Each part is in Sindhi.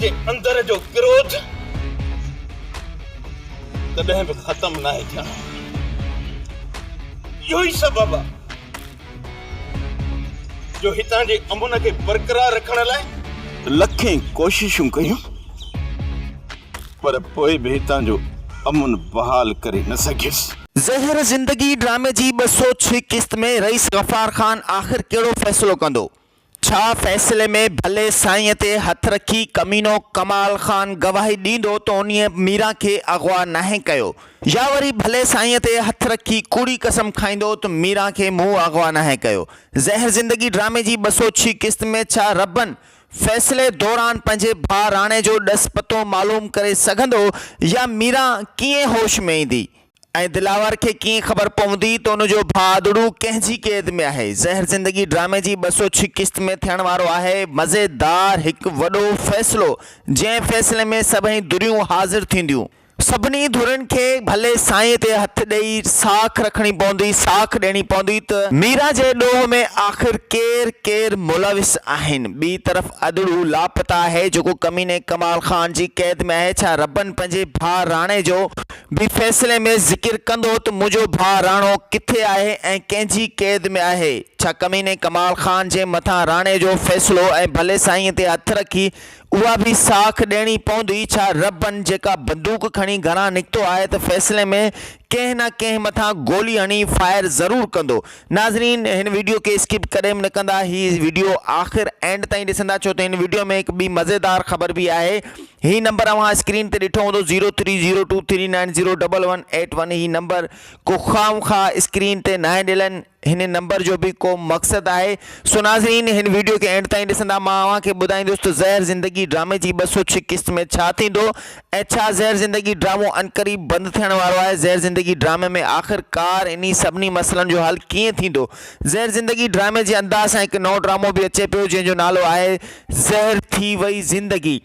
جي اندر جو ڪروڌ ڪڏهن به ختم ناهي ٿيڻو. اهو ئي سبب آ جو هتان جي امن کي برقرار رکڻ لاء لکين ڪوششون ڪيون پر پوء به هتان جو امن بحال ڪري نه سگهيس. زهر زندگي ڊرامي جي ٻه سؤ ڇهه قسط ۾ رئيس غفار خان آخر ڪهڙو فيصلو ڪندو؟ ڇا فيصلي ۾ ڀلي سائينء تي هٿ رکي ڪمينو ڪمال خان گواهي ڏيندو ته انهيء ميران کي اغوا ناهي ڪيو يا وري ڀلي سائينء تي هٿ رکي ڪوڙي قسم کائيندو ته ميران کي مون اغوا ناهي ڪيو؟ زهر زندگي ڊرامي جي ٻه سؤ ڇهين قسط ۾ ڇا ربن فيصلي دوران پنهنجي ڀاء راڻي جو ڏس پتو معلوم ڪري سگهندو يا ميران ڪيئن هوش ۾ ايندي؟ ۽ دلاور کي ڪيئن خبر پوندي ته ان جو ڀاءڙو ڪنهن جي قيد ۾ آهي. زهر زندگي ڊرامي جي ٻه سؤ ڇهه قسط ۾ ٿيڻ وارو آهي مزيدار هڪ وڏو فيصلو جنهن فيصلي ۾ سڀئي ڌريون حاضر ٿينديون. سڀني ڌرين کي ڀلي سائينء تي هٿ ڏئي ساک رکڻي پوندي، ساک ڏيڻي پوندي ته ميرا جي ڏوهه ۾ آخر ڪير ڪير ملوث آهن. ٻي طرف ادڙو لاپتا آهي جيڪو ڪميني ڪمال خان جي قيد ۾ آهي ڇا ربن پنهنجي ڀاء راڻي جو به فيصلي ۾ ذڪر ڪندو ته منهنجو ڀاء راڻو ڪٿي آهي ۽ ڪنهن جي قيد ۾ آهي؟ ڇا ڪميني ڪمال خان جي مٿان راڻي جو فيصلو ۽ ڀلي سائينء تي هٿ رکي اها به ساک ڏيڻي پوندي؟ ڇا ربن جيڪا بندوق کڻي گهران نڪتو آهي ته فيصلي ۾ ڪنهن نه ڪنهن مٿان گولي هڻي فائر ضرور ڪندو؟ ناظرين هن وڊيو کي اسڪپ ڪڏهن به نه ڪندا هي وڊيو آخر اينڊ تائين ڏسندا ڇو ته هن وڊيو ۾ هڪ ٻي مزيدار خبر به آهي هي نمبر اوهان اسڪرين تي ڏٺو هوندو zero three zero two three nine zero double one eight one هي نمبر ڪو خام خا اسڪرين تي ناهي ڏيلن هن نمبر جو به ڪو مقصد آهي سو ناظرين هن ويڊيو کي اينڊ تائين ڏسندا مان اوهان کي ٻڌائيندس ته زهر زندگي ڊرامي جي ٻه سو ڇهه قسط ۾ ڇا ٿيندو ۽ ڇا زهر زندگي ڊرامو عنقريب بند ٿيڻ وارو آهي زهر زندگي ڊرامي ۾ آخر ڪار انهي سڀني مسئلن جو حل ڪيئن ٿيندو زهر زندگي ڊرامي جي انداز سان هڪ نئون ڊرامو به اچي پيو جنهن جو نالو آهي زهر ٿي وئي زندگي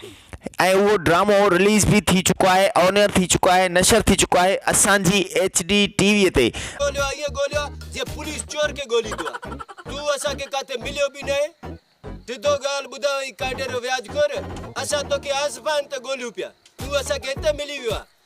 ۽ اهو ڊرامو رليز به ٿي چڪو آهي اونئر ٿي چڪو آهي نشر ٿي چڪو آهي اسان جي ايڇ ڊي ٽي وي تي. ڳوليو ائين ڳوليو جيئن پوليس چور کي ڳوليندو آهي تون اسان کي ڪاٿي مليو به ناهي ڊڌو ڳالهه ٻڌاء ۽ ڪانڊي رو وياج گهر اسان توکي آصفائن تي ڳوليون پيا تون اسان کي هتي ملي ويو آهي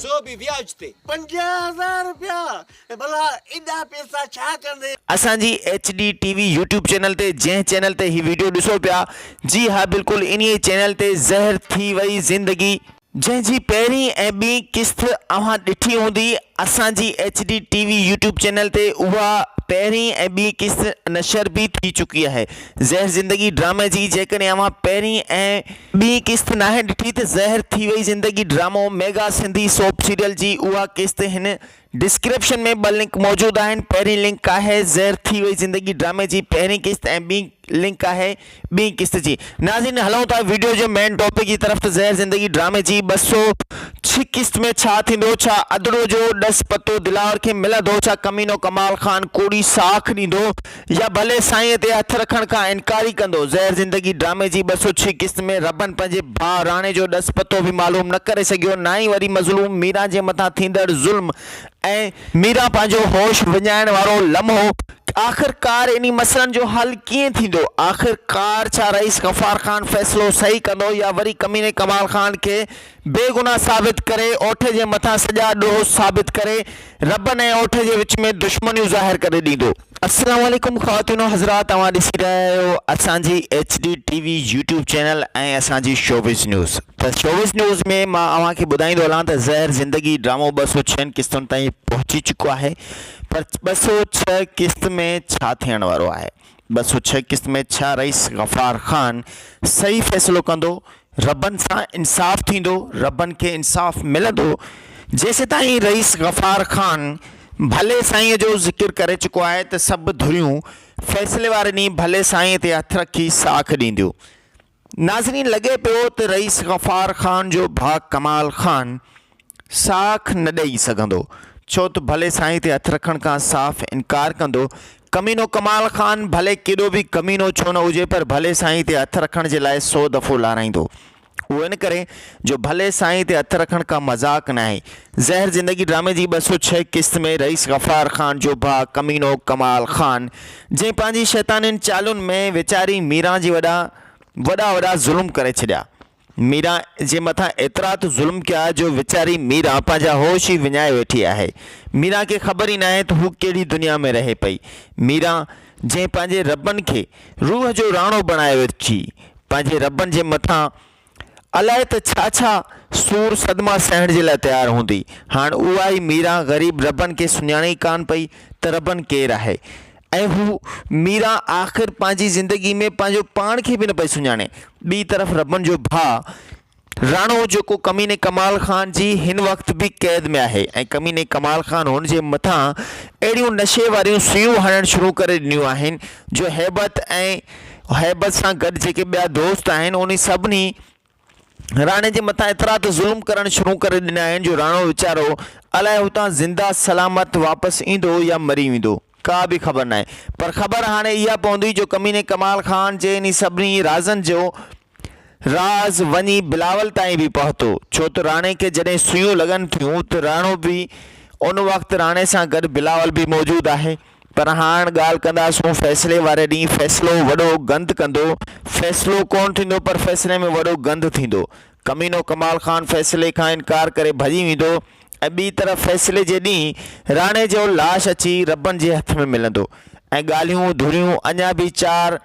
سو به وياج تي. پنجاهه هزار رپيا! اي ڀلا ايڏا پيسا ڇا ڪندي؟ اسان جي H D T V YouTube channel تي جنهن چينل تي هي ويڊيو ڏسو پيا جي ها بلڪل انهي چينل تي زهر ٿي وئي زندگي، جنهن جي پهرين ۽ ٻي قسط اوهان ڏٺي هوندي اسان جي H D T V YouTube channel تي اها پهرين ۽ ٻي قسط نشر به ٿي چڪي آهي زهر زندگي ڊرامي جي جيڪڏهن اوهان پهرين ۽ ٻي قسط ناهي ڏٺي ته زهر ٿي وئي زندگي ڊرامو ميگا سنڌي سوپ سيريل جي اها قسط هن ڊسڪريپشن ۾ ٻه لنڪ موجود آهن پهرين لنڪ آهي زهر ٿي وئي زندگي ڊرامي جي پهرين قسط ۽ ٻي لنڪ آهي ٻي قسط جي ناظرين هلون ٿا ويڊيو جي مين ٽاپڪ جي طرف ته زهر زندگي ڊرامي جي ٻه سؤ ڇهه قسط ۾ ڇا ٿيندو ڇا ادڙو جو ڏس پتو دلاور کي ملندو ڇا ڪمينو ڪمال خان ڪوڙي ساک ڏيندو يا ڀلي سائينء تي هٿ رکڻ کان انڪاري ڪندو. زهر زندگي ڊرامي جي ٻه سؤ ڇهه قسط ۾ ربن پنهنجي ڀاء راڻي جو ڏس پتو به معلوم نه ڪري سگهيو، نه ئي وري مظلوم ميران جي مٿان ٿيندڙ ظلم ۽. ميران پنهنجو هوش وڃائڻ وارو لمحو. آخر ڪار انهي مسئلن جو حل ڪيئن ٿيندو؟ آخر ڪار ڇا رئيس غفار خان فيصلو صحيح ڪندو يا وري ڪميني ڪمال خان کي بي گناھ ثابت ڪري اوٺ جي مٿان سڄا ڏوھ ثابت ڪري ربن ۽ اوٺ جي وچ ۾ دشمنيون ظاھر ڪري ڏيندو. السلام عليڪم خواتين و حضرات اوهان ڏسي رهيا آهيو اسان جي H D T V YouTube channel ۽ اسان جي شوبز نيوز ته شوبز نيوز ۾ مان اوهان کي ٻڌائيندو هلان ته زهر زندگي ڊرامو ٻه سؤ ڇهن قسطن تائين پهچي چڪو آهي پر ٻه سؤ ڇهه قسط ۾ ڇا ٿيڻ وارو آهي ٻه سؤ ڇهه قسط ۾ ڇا رئيس غفار خان صحيح فيصلو ڪندو؟ ربن سان انصاف ٿيندو؟ ربن کي انصاف ملندو؟ جيسيتائين رئيس غفار خان ڀلي سائينء جو ذڪر ڪري چڪو آهي ته سڀ ڌريون فيصلي واري ڏينهن ڀلي سائينء تي هٿ رکي ساک ڏينديون. ناظرين لڳي پيو ته رئيس غفار خان جو ڀاء ڪمال خان ساک نه ڏئي سگهندو ڇو ته ڀلي سائين تي هٿ رکڻ کان صاف انڪار ڪندو ڪمينو ڪمال خان ڀلي ڪيڏو به ڪمينو ڇو نه هجي پر ڀلي سائين تي هٿ رکڻ جي لاء سو دفعو لارائيندو اهو ان ڪري جو ڀلي سائين تي هٿ رکڻ ڪا مذاق ناهي زهر زندگي ڊرامي جي ٻه سؤ ڇهه قسط ۾ رئيس غفار خان جو ڀاء ڪمينو ڪمال خان جنهن پنهنجي شيطانين چالن ۾ ويچاري ميران جي وڏا وڏا وڏا ظلم ڪري ڇڏيا. ميران جي مٿان ايترا ته ظلم ڪيا جو ويچاري ميران پنهنجا هوش ئي وڃائي ويٺي آهي. ميران کي خبر ئي ناهي ته هو ڪهڙي دنيا ۾ رهي پئي. ميران جنهن پنهنجي ربن کي روح جو راڻو بڻايو اچي پنهنجي ربن جي مٿان الائي ته ڇا ڇا سور صدما سهڻ جي لاء تيار هوندي. هاڻ اها ئي ميران غريب ربن کي سڃاڻي ئي ڪانه پئي ته ربن ڪير آهي. ۽ هو ميران آخر پنهنجي زندگي ۾ پنهنجو پاڻ کي به نه پئي سڃاڻي. ٻي طرف ربن جو ڀاء راڻو جيڪو ڪميني ڪمال خان جي هن وقت به قيد ۾ آهي ۽ ڪميني ڪمال خان هن جي مٿان اهڙيون نشي واريون سوئيون هڻڻ شروع ڪري ڏنيون آهن جو هيبت ۽ هيبت سان گڏ جيڪي ٻيا دوست آهن انهي سڀني راڻي جي مٿان ايترا ته ظلم ڪرڻ شروع ڪري ڏنا آهن جو راڻو ويچارو الائي هتان زنده سلامت واپس ايندو يا مري ويندو ڪا به خبر ناهي پر خبر هاڻي اها پوندي جو ڪميني ڪمال خان جي انهي سڀني رازن جو راز وڃي بلاول تائين به پهتو ڇو ته راڻي کي جڏهن سوئيون لڳن ٿيون ته راڻو به ان وقت راڻي سان گڏ بلاول به موجود آهي. پر هاڻ ڳالهه ڪنداسون فيصلي واري ڏينهن فيصلو وڏو گند ڪندو فيصلو ڪونه ٿيندو پر فيصلي ۾ وڏو گند ٿيندو ڪمينو ڪمال خان فيصلي کان انڪار ڪري ڀڄي ويندو ۽ ٻي طرف فيصلي جي ڏينهن راڻي جو لاش اچي ربن جي هٿ ۾ ملندو ۽ ڳالهيون ڌريون اڃا به چار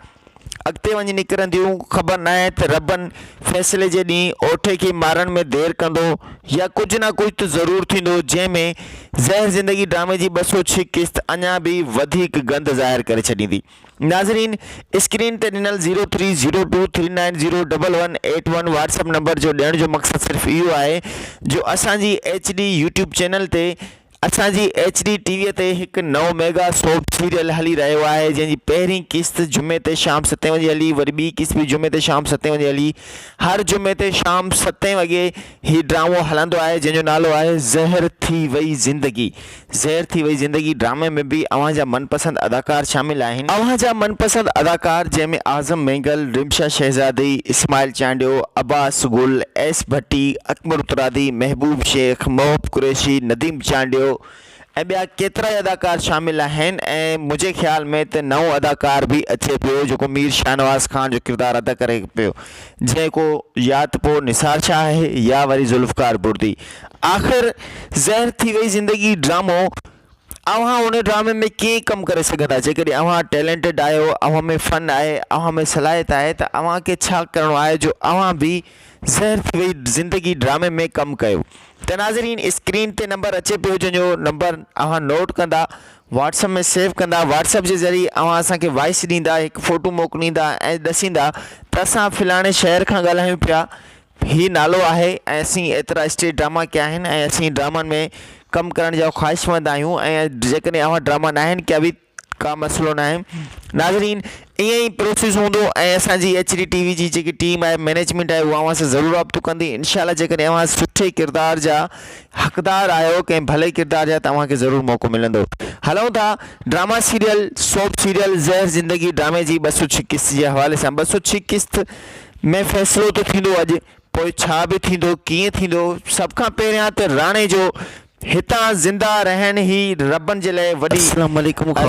اڳتي وڃي نڪرنديون، خبر ناهي ته ربن فيصلي جي ڏينهن اوٺي کي مارڻ ۾ دير ڪندو يا ڪجهه نه ڪجهه ته ضرور ٿيندو جنهن ۾ زهر زندگي ڊرامي جي ٻه سؤ ڇهه قسط اڃا به وڌيڪ گند ظاهر ڪري ڇڏيندي ناظرين اسڪرين تي ڏنل zero three zero two three nine zero double one eight one WhatsApp number جو ڏيڻ جو مقصد صرف اهو آهي جو اسان جي ايڇ ڊي يوٽيوب چينل تي اسان جي ايڇ ڊي ٽي وي تي هڪ نئون ميگا سوپ سيريل هلي رهيو آهي جنهن جي پهرين قسط جمعي تي شام ستين وڄي هلي وري ٻي قسط به جمعي تي شام ستين وڄي هلي هر جمعي تي شام ستين وڳي هي ڊرامو هلندو آهي جنهن جو نالو آهي زهر ٿي وئي زندگي زهر ٿي وئي زندگي ڊرامي ۾ به اوهان جا من پسند اداڪار شامل آهن. اوهان جا من پسند اداڪار جنهن ۾ اعظم مينگل، رمشا شهزادي، اسماعيل چانڊيو، عباس گل، ايس ڀٽي، اڪمل اترادي، محبوب شيخ، محب قريشي، نديم چانڊيو ۽ ٻيا ڪيترائي اداڪار شامل آهن ۽ منهنجي خيال ۾ ته نئون اداڪار به اچي پيو جيڪو مير شاهنواز خان جو ڪردار ادا ڪري پيو جيڪو يا ته پوء نثار شاهه آهي يا وري ذوالفقار بردي آخر زهر ٿي وئي زندگي ڊرامو اوهان ان ڊرامي ۾ ڪيئن ڪم ڪري سگهندا جيڪڏهن اوهان ٽيلينٽيڊ آهيو اوهان ۾ فن آهي اوهان ۾ صلاحيت آهي ته اوهان کي ڇا ڪرڻو آهي جو اوهان به زهر ٿي وئي زندگي ڊرامي ۾ ڪم ڪيو ته ناظرين اسڪرين تي نمبر اچي پيو جنهن جو نمبر اوهان نوٽ ڪندا واٽس اپ ۾ سيو ڪندا واٽس اپ جي ذريعي اوهان اسان کي وائس ڏيندا هڪ فوٽو موڪليندا ۽ ڏسيندا ته اسان فلاڻي شهر کان ڳالهايون پيا هي نالو آهي ۽ اسين ايترا اسٽيج ڊراما ڪيا آهن ۽ اسين ڊرامن ۾ ڪم ڪرڻ جا خواهشمند آهيون ۽ جيڪڏهن اوهان ڊراما ناهن ڪيا به ڪا مسئلو ناهي ناظرين ائين ئي پروسيس هوندو ۽ اسان جي ايڇ ڊي ٽي وي جي جيڪي ٽيم آهي مينيجمينٽ آهي اوهان سان ضرور رابطو ڪندي انشاء الله جيڪڏهن اوهان سٺي ڪردار جا حقدار آهيو ڪنهن ڀلي ڪردار جا ته اوهان کي ضرور موقعو ملندو هلون ٿا ڊراما سيريل سوپ سيريل زهر زندگي ڊرامي جي ٻه سو ڇهه قسط جي حوالي سان ٻه سو ڇهه قسط ۾ فيصلو ته ٿيندو اڄ پوء ڇا به ٿيندو ڪيئن ٿيندو سڀ کان پهريان ته راڻي جو هتان زنده رهڻ ئي ربن جي لاء وڏي ۽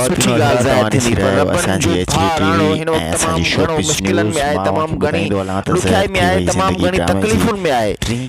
سٺي ڳالهه ظاهر ٿيندي پر ربن جو ڀاء راڻو هن وقت تمام گهڻو مشڪلن ۾ آهي تمام گهڻي ڏکيائي ۾ آهي تمام گهڻي تڪليفن ۾ آهي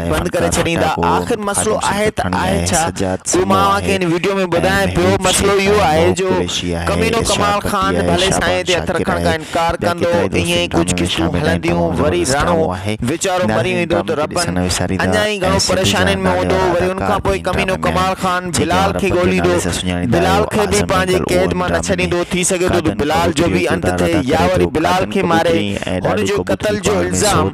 بند ڪري ڇڏيندا آخر مسئلو آهي ته آهي ڇا اهو مان اوهان کي هن وڊيو ۾ ٻڌايان پيو مسئلو اهو آهي جو ڪمينو ڪمال خان ڀلي سائين تي هٿ رکڻ کان انڪار ڪندو ائين ئي ڪجهه قسطون هلنديون وري راڻو ويچارو مري ويندو ته ربن اڃا ئي گهڻو پريشانين ۾ هوندو وري ان کان پوء ڪمينو ڪمال خان بلال کي ڳوليندو بلال کي به پنهنجي قيد مان نه ڇڏيندو ٿي سگهي ٿو ته بلال جو به انت ٿئي يا وري بلال کي ماري هن جو قتل جو الزام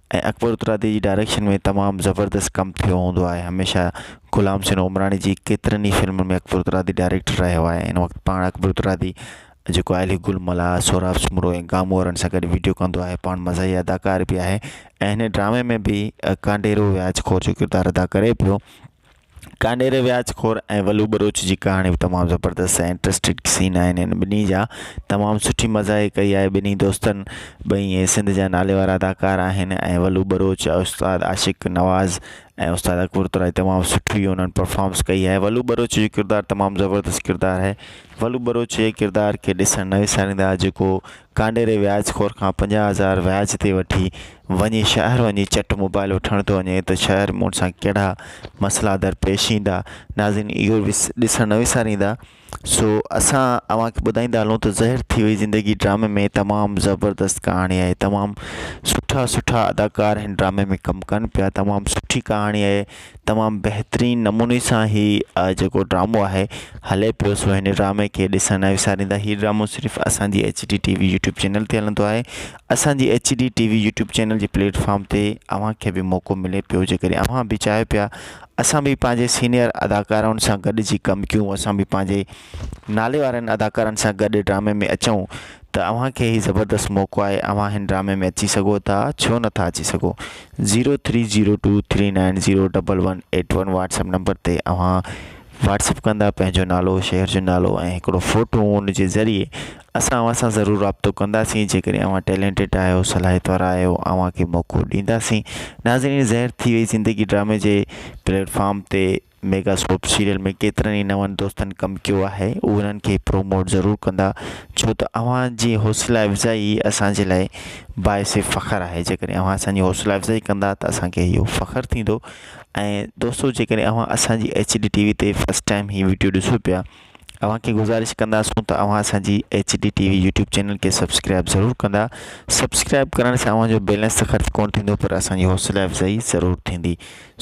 ۽ اڪبر اترادي جي ڊائريڪشن ۾ تمام زبردست ڪم ٿيو هوندو آهي هميشه غلام حسين عمراڻي جي ڪيترن ئي فلمن ۾ اڪبر اترادي ڊائريڪٽر رهيو آهي ان وقت پاڻ اڪبر اترادي جيڪو آهلي گل ملا سهراب سومرو ۽ گامو وارن سان گڏ ويڊيو ڪندو آهي پاڻ مزاحيه اداڪار به آهي ۽ هن ڊرامي ۾ به ڪانڊيرو وياج خور جو ڪردار ادا ڪري پيو ڪانڊيري وياج خور ۽ ولو ٻروچ جي ڪهاڻي به تمام زبردست ۽ انٽرسٽنگ سين آهن هن ٻنهي جا تمام سٺي مزاحيي ڪئي آهي ٻنهي دوستن ٻئي ائين سنڌ جا نالي وارا اداڪار آهن ۽ ولو ٻروچ استاد عاشق نواز ۽ استاد اڪبر ترائي تمام سٺي انهن پرفامس ڪئي آهي ولو ٻروچ جو ڪردار تمام زبردست ڪردار آهي ولو ٻروچ جي ڪردار کي ڏسڻ نه وساريندا جيڪو ڪانڊيري وياج خور کان پنجاهه هزار وياج تي وٺي وڃي شهر وڃي چٽ موبائل وٺڻ ٿو وڃي ته شهر مون سان ڪهڙا مسئلا درپيش ايندا ناظرين اهو به ڏسڻ نه وساريندا سو اسان اوهان کي ٻڌائيندا هلون ته زهر ٿي وئي زندگي ڊرامي ۾ تمام زبردست ڪهاڻي آهي تمام سٺا سٺا اداڪار هن ڊرامي ۾ ڪم ڪن پيا تمام سٺي ڪهاڻي آهي تمام بهترين نموني سان هي جيڪو ڊرامو آهي هلي پيو سو هن ڊرامي کي ڏسڻ نه وساريندا هي ڊرامو صرف اسان جي H D T V YouTube channel تي هلندو آهي اسان جي H D T V YouTube channel جي پليٽفارم تي اوهان کي به موقعو ملي پيو جي ڪڏهن اوهان به چاهيو پيا اسان به پنهنجي سينيئر اداڪارائن سان گڏجي ڪم ڪيون اسان به پنهنجي نالي وارن اداڪارن سان گڏ ڊرامي ۾ اچون ته اوهان کي هي زبردست موقعو آهي اوهان هن ڊرامي ۾ اچي سگهو ٿا ڇو نه ٿا اچي سگهو zero three zero two three nine zero double one eight one WhatsApp number تي اوهان واٽس اپ ڪندا پنهنجو نالو شهر جو نالو ۽ هڪڙو فوٽو ان جي ذريعي اسان اوهان سان ضرور رابطو ڪنداسين جيڪڏهن اوهان ٽيلينٽيڊ آهيو صلاحيت وارا آهيو اوهان کي موقعو ڏينداسين ناظرين زهر ٿي وئي زندگي ڊرامي جي پليٽ فارم تي ميگا سوپ سيريل ۾ ڪيترن ئي نون دوستن ڪم ڪيو آهي اهي انهن کي پروموٽ ضرور ڪندا ڇو ته اوهان جي حوصلا افزائي اسان جي لاء باعث فخر آهي جيڪڏهن اوهان اسان جي حوصلا افزائي ڪندا ته اسان کي اهو فخر ٿيندو ۽ دوستو جيڪڏهن اوهان اسان جي ايچ ڊي ٽي وي تي فسٽ ٽائم هي وڊيو ڏسو پيا اوهان کي گذارش ڪنداسون ته اوهان اسان جي H D T V YouTube channel کي سبسڪرائب ضرور ڪندا سبسڪرائب ڪرڻ سان اوهان جو بيلنس ته خرچ ڪون ٿيندو پر اسان جي حوصلا افزائي ضرور ٿيندي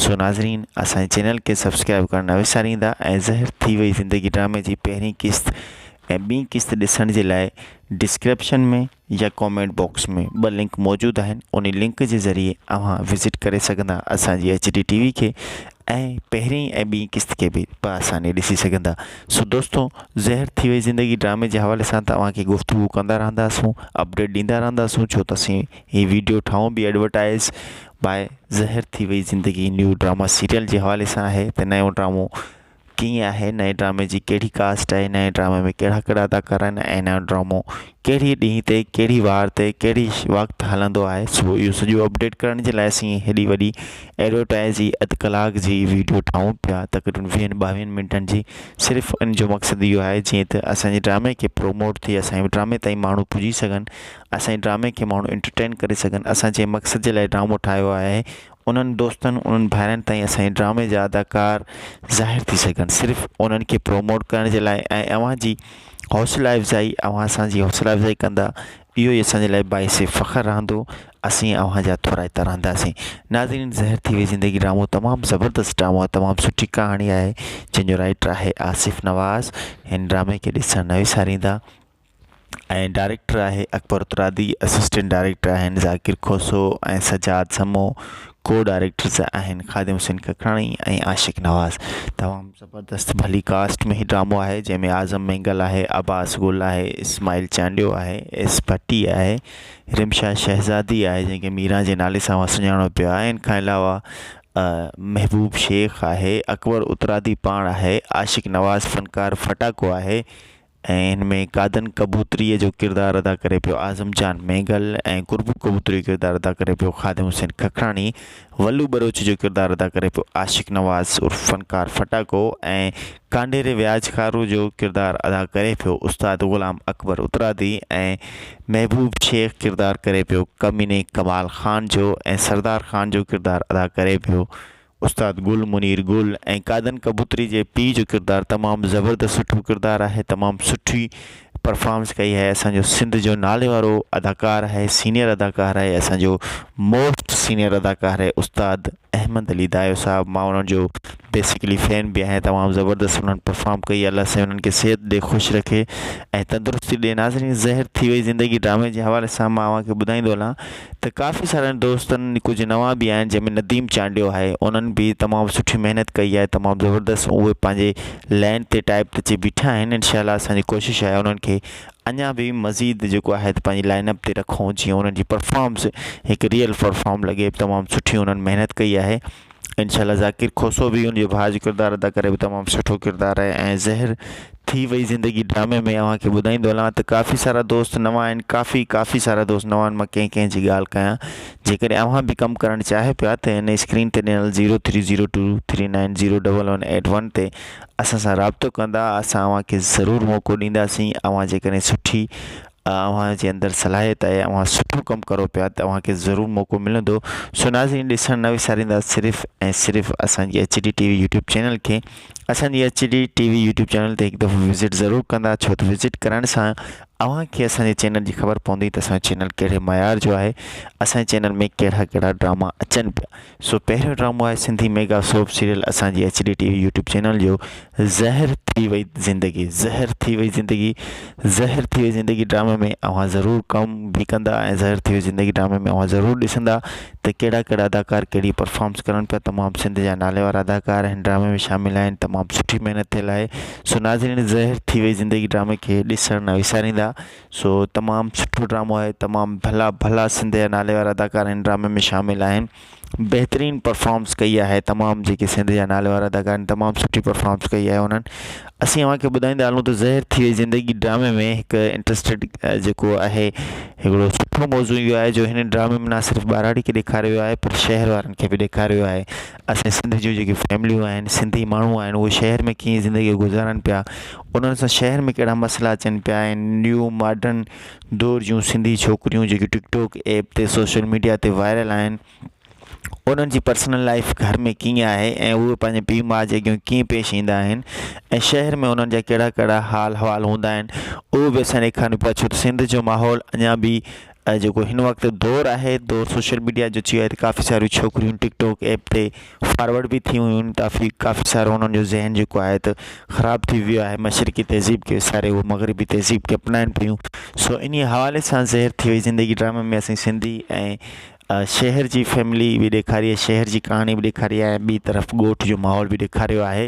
سو ناظرين اسان جي چينل کي سبسڪرائب ڪرڻ نه وساريندا ۽ زهر ٿي وئي زندگي ڊرامي جي پهرين قسط ۽ ٻي قسط ڏسڻ جي لاء ڊسڪرپشن ۾ يا ڪامينٽ باڪس ۾ ٻه لنڪ موجود آهن انهي لنڪ جي ذريعي اوهان وزٽ ڪري سگهندا اسان جي ايچ ڊي ٽي وي کي ۽ پهرين ۽ ٻي قسط کي به با آساني ڏسي سگهندا سو دوستو زهر ٿي وئي زندگي ڊرامي جي حوالي سان ته اوهان کي گفتگو ڪندا رهنداسون اپڊيٽ ڏيندا رهنداسون ڇو ته اسين هي ويڊيو ٺاهون به ايڊورٽائز باء زهر ٿي وئي زندگي نيو ڊراما سيريل جي حوالي سان آهي ته نيو ڊرامو ڪيئن آهي نئين ڊرامي جي ڪهڙي ڪاسٽ آهي نئين ڊرامي ۾ ڪهڙا ڪهڙا اداڪار آهن ۽ نيو ڊرامو ڪهڙي ڏينهن تي ڪهڙي وار تي ڪهڙي وقت هلندو آهي سو اهو سڄو اپڊيٽ ڪرڻ جي لاء اسين هيڏي وڏي ايڊورٽائز جي اڌ ڪلاڪ جي ويڊيو ٺاهون پيا تقريبن ويهن ٻاويهن منٽن جي صرف ان جو مقصد اهو آهي جيئن ته اسانجي ڊرامي کي پروموٽ ٿئي اسانجي ڊرامي تائين ماڻهو پڄي سگهن اسانجي ڊرامي کي ماڻهو انٽرٽين ڪري سگهن اسان جنهن مقصد جي لاء ڊرامو ٺاهيو آهي انهن دوستن انهن ڀائرن تائين اسان جي ڊرامي جا اداڪار ظاهر ٿي سگهن صرف انهن کي پروموٽ ڪرڻ جي لاء ۽ اوهان جي حوصلا افزائي اوهان اسان جي حوصلا افزائي ڪندا اهو ئي اسان جي لاء باعث فخر رهندو اسين اوهان جا ٿورائتا رهنداسين ناظرين زهر ٿي وئي زندگي ڊرامو تمام زبردست ڊرامو آهي تمام سٺي ڪهاڻي آهي جنهن جو رائٽر آهي آصف نواز هن ڊرامي کي ڏسڻ نه وساريندا ۽ ڊائريڪٽر آهي اڪبر ترابي اسسٽنٽ ڊائريڪٽر آهن ذاڪر کوسو ۽ سجاد سمون ڪو ڊائريڪٽرز آهن خادم حسين ککراڻي ۽ عاشق نواز تمام زبردست ڀلي ڪاسٽ ۾ هي ڊرامو آهي جنهن ۾ اعظم مينگل آهي عباس گل آهي اسماعيل چانڊيو آهي ايس ڀٽي آهي رمشا شهزادي آهي جنهن کي ميران جي نالي سان سڃاڻو پيو آهي ان کان علاوه محبوب شيخ آهي اڪبر اترادي پاڻ آهي عاشق نواز فنڪار ڦٽاڪو آهي ۽ ان ۾ قادن ڪبوتري جو ڪردار ادا ڪري پيو اعظم جان مينگل ۽ قربو ڪبوتري جو ڪردار ادا ڪري پيو خادم حسين ککراڻي ولو ٻروچ جو ڪردار ادا ڪري پيو عاشق نواز عرف فنڪار ڦٽاڪو ۽ ڪانڍيري وياج کارو جو ڪردار ادا ڪري پيو استاد غلام اڪبر اترادي ۽ محبوب شيخ ڪردار ڪري پيو ڪميني ڪمال خان جو ۽ سردار خان جو ڪردار ادا ڪري پيو استاد گل منير گل ۽ قائدن ڪبوتري جي پيء جو ڪردار تمام زبردست سٺو ڪردار آهي تمام سٺي پرفارمنس ڪئي آهي اسانجو سنڌ جو نالي وارو اداڪار آهي سينيئر اداڪار آهي اسانجو موسٽ سينيئر اداڪار آهي استاد احمد علي دايو صاحب مان انهن جو بيسڪلي فين به آهيان تمام زبردست انهن پرفارم ڪئي الله سائين انهن کي صحت ڏي خوش رکي ۽ تندرستي ڏي ناظرين زهر ٿي وئي زندگي ڊرامي جي حوالي سان مان اوهان کي ٻڌائيندو هلان ته ڪافي سارن دوستن ڪجهه نوان به آهن جنهن ۾ نديم چانڊيو آهي انهن به تمام سٺي محنت ڪئي آهي تمام زبردست اهي پنهنجي لائين تي ٽائپ تي اچي بيٺا آهن انشاء الله اسان جي ڪوشش آهي انهن کي اڃا به مزيد جيڪو آهي ته پنهنجي لائين اپ تي رکون جيئن انهن جي پرفارمس هڪ ريئل پرفارم لڳي تمام سٺي انهن محنت ڪئي آهي انشاء الله ذاڪر کوسو به ان جي ڀاء جو ڪردار ادا ڪري به تمام سٺو ڪردار آهي ۽ زهر ٿي وئي زندگي ڊرامي ۾ اوهان کي ٻڌائيندو هلان ته ڪافي سارا دوست نوان آهن ڪافي ڪافي سارا دوست نوان آهن مان ڪنهن ڪنهن جي ڳالهه ڪيان جيڪڏهن اوهان به ڪم ڪرڻ چاهي پيا ته هن اسڪرين تي ڏنل zero three zero two three nine zero double one eight one تي اسان سان رابطو ڪندا اسان اوهان کي ضرور موقعو ڏينداسين اوهان جيڪڏهن سٺي اوهان جي اندر صلاحيت آهي اوهان سٺو ڪم ڪرو پيا ته اوهان کي ضرور موقعو ملندو سو ناظرين ڏسڻ نه وساريندا صرف ۽ صرف اسان جي H D T V YouTube channel کي اسان جي H D T V YouTube channel تي هڪ دفعو وزٽ ضرور ڪندا ڇو ته وزٽ ڪرڻ سان اوهان کي اسان جي چينل جي خبر پوندي ته اسان جو چينل ڪهڙي معيار جو آهي اسان جي چينل ۾ ڪهڙا ڪهڙا ڊراما اچن پيا سو پهريون ڊرامو آهي سنڌي ميگا سوپ سيريل اسان جي H D T V YouTube channel جو زهر ٿي وئي زندگي زهر ٿي وئي زندگي زهر ٿي وئي زندگي ڊرامي ۾ اوهان ضرور ڪم به ڪندا ۽ زهر ٿي وئي زندگي ڊرامي ۾ اوهان ضرور ڏسندا ته ڪهڙا ڪهڙا اداڪار ڪهڙي پرفارمنس ڪرن پيا تمام سنڌ جا نالي وارا اداڪار هن ڊرامي ۾ شامل آهن تمام سٺي محنت ٿيل آهي سو ناظرين زهر ٿي وئي زندگي ڊرامي کي ڏسڻ نه وساريندا سو تمام سٺو ڊرامو آهي تمام ڀلا ڀلا سنڌ جا ناليوار اداڪار هن ڊرامي ۾ شامل آهن بهترين پرفارمس ڪئي آهي تمام جيڪي سنڌ جا ناليوار اداڪار آهن تمام سٺي پرفارمس ڪئي آهي انهن اسين اوهان کي ٻڌائيندا هلون ته زهر ٿي وئي زندگي ڊرامي ۾ هڪ انٽرسٽيڊ جيڪو آهي هڪڙو سٺو موضوع اهو آهي جو هن ڊرامي ۾ نه صرف ٻهراڙي کي ڏيکاريو ويو آهي پر شهر وارن کي به ڏيکاريو ويو آهي اسين سنڌ جون جيڪي فيمليون آهن سنڌي ماڻهو آهن اهي شهر ۾ ڪيئن زندگي گذارن پيا انهن سان شهر ۾ ڪهڙا مسئلا اچن پيا ۽ نيو ماڊرن دور جون سنڌي ڇوڪريون جيڪي ٽڪ ٽوڪ ايپ تي سوشل ميڊيا تي وائرل آهن انهن جي پرسنل لائف گهر ۾ ڪيئن آهي ۽ اهي پنهنجي پيء ماء جي اڳيان ڪيئن پيش ايندا آهن ۽ شهر ۾ انهن جا ڪهڙا ڪهڙا حال حوال هوندا آهن اهو به اسين ڏيکارڻ پيا ڇو ته سنڌ جو ماحول اڃان به ۽ جيڪو هن وقت دور آهي دور سوشل ميڊيا جو چيو آهي ته ڪافي ساريون ڇوڪريون ٽڪ ٽوڪ ايپ تي فارورڊ به ٿيون هيون ڪافي ڪافي سارو انهن جو ذهن جيڪو آهي ته خراب ٿي ويو آهي مشرقي تهذيب کي وساري هو مغربي تهذيب کي اپنائن پيون سو انهيء حوالي سان زهر ٿي وئي زندگي ڊرامي ۾ اسين سنڌي ۽ شهر جي فيملي به ڏيکاري آهي شهر جي ڪهاڻي به ڏيکاري آهي ۽ ٻي طرف ڳوٺ جو ماحول به ڏيکاريو آهي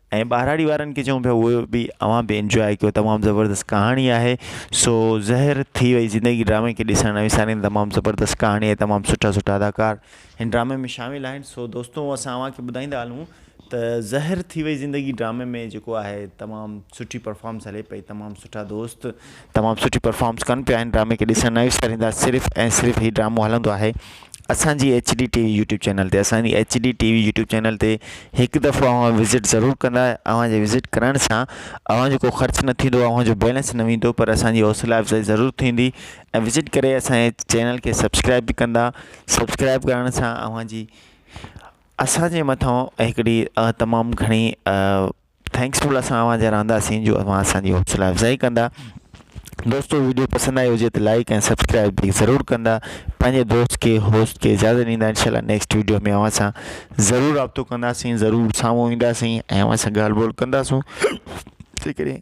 ۽ ٻهراڙي وارن کي چئون پيا اهي به اوهان به انجواء ڪيو تمام زبردست ڪهاڻي آهي سو زهر ٿي وئي زندگي ڊرامي کي ڏسڻ نه وسارين تمام زبردست ڪهاڻي آهي تمام سٺا سٺا اداڪار هن ڊرامي ۾ شامل آهن سو دوستو اسان اوهان کي ٻڌائيندا هلون ته زهر ٿي وئي زندگي ڊرامي ۾ جيڪو آهي تمام سٺي پرفارمنس هلي پئي تمام سٺا دوست تمام سٺي پرفارمنس ڪن پيا ھن ڊرامي کي ڏسڻ نه وساريندا صرف ۽ صرف ھي ڊرامو ھلندو آھي اسانجي H D T V YouTube channel تي اسانجي H D T V YouTube channel تي ھڪ دفعو اوھان وزٽ ضرور ڪندا اوھان جي وزٽ ڪرڻ سان اوھان جو ڪو خرچ نه ٿيندو اوھان جو بيلنس نه ويندو پر اسانجي حوصلا افزائي ضرور ٿيندي ۽ وزٽ ڪري اسانجي چينل کي سبسڪرائب به ڪندا سبسڪرائب ڪرڻ سان اوھان جي اسانجي مٿان ھڪڙي تمام گھڻي ٿينڪس فل اسان اوهان جا رهنداسين جو اوهان اسانجي حوصلا افزائي ڪندا دوستو ويڊيو پسند آئي هجي ته لائڪ ۽ سبسڪرائب به ضرور ڪندا پنهنجي دوست کي هوسٽ کي اجازت ڏيندا انشاء الله نيڪسٽ ويڊيو ۾ اوهان سان ضرور رابطو ڪنداسين ضرور سامهون اينداسين ۽ اوهان سان ڳالهه ٻولهه ڪنداسون جي ڪڏهن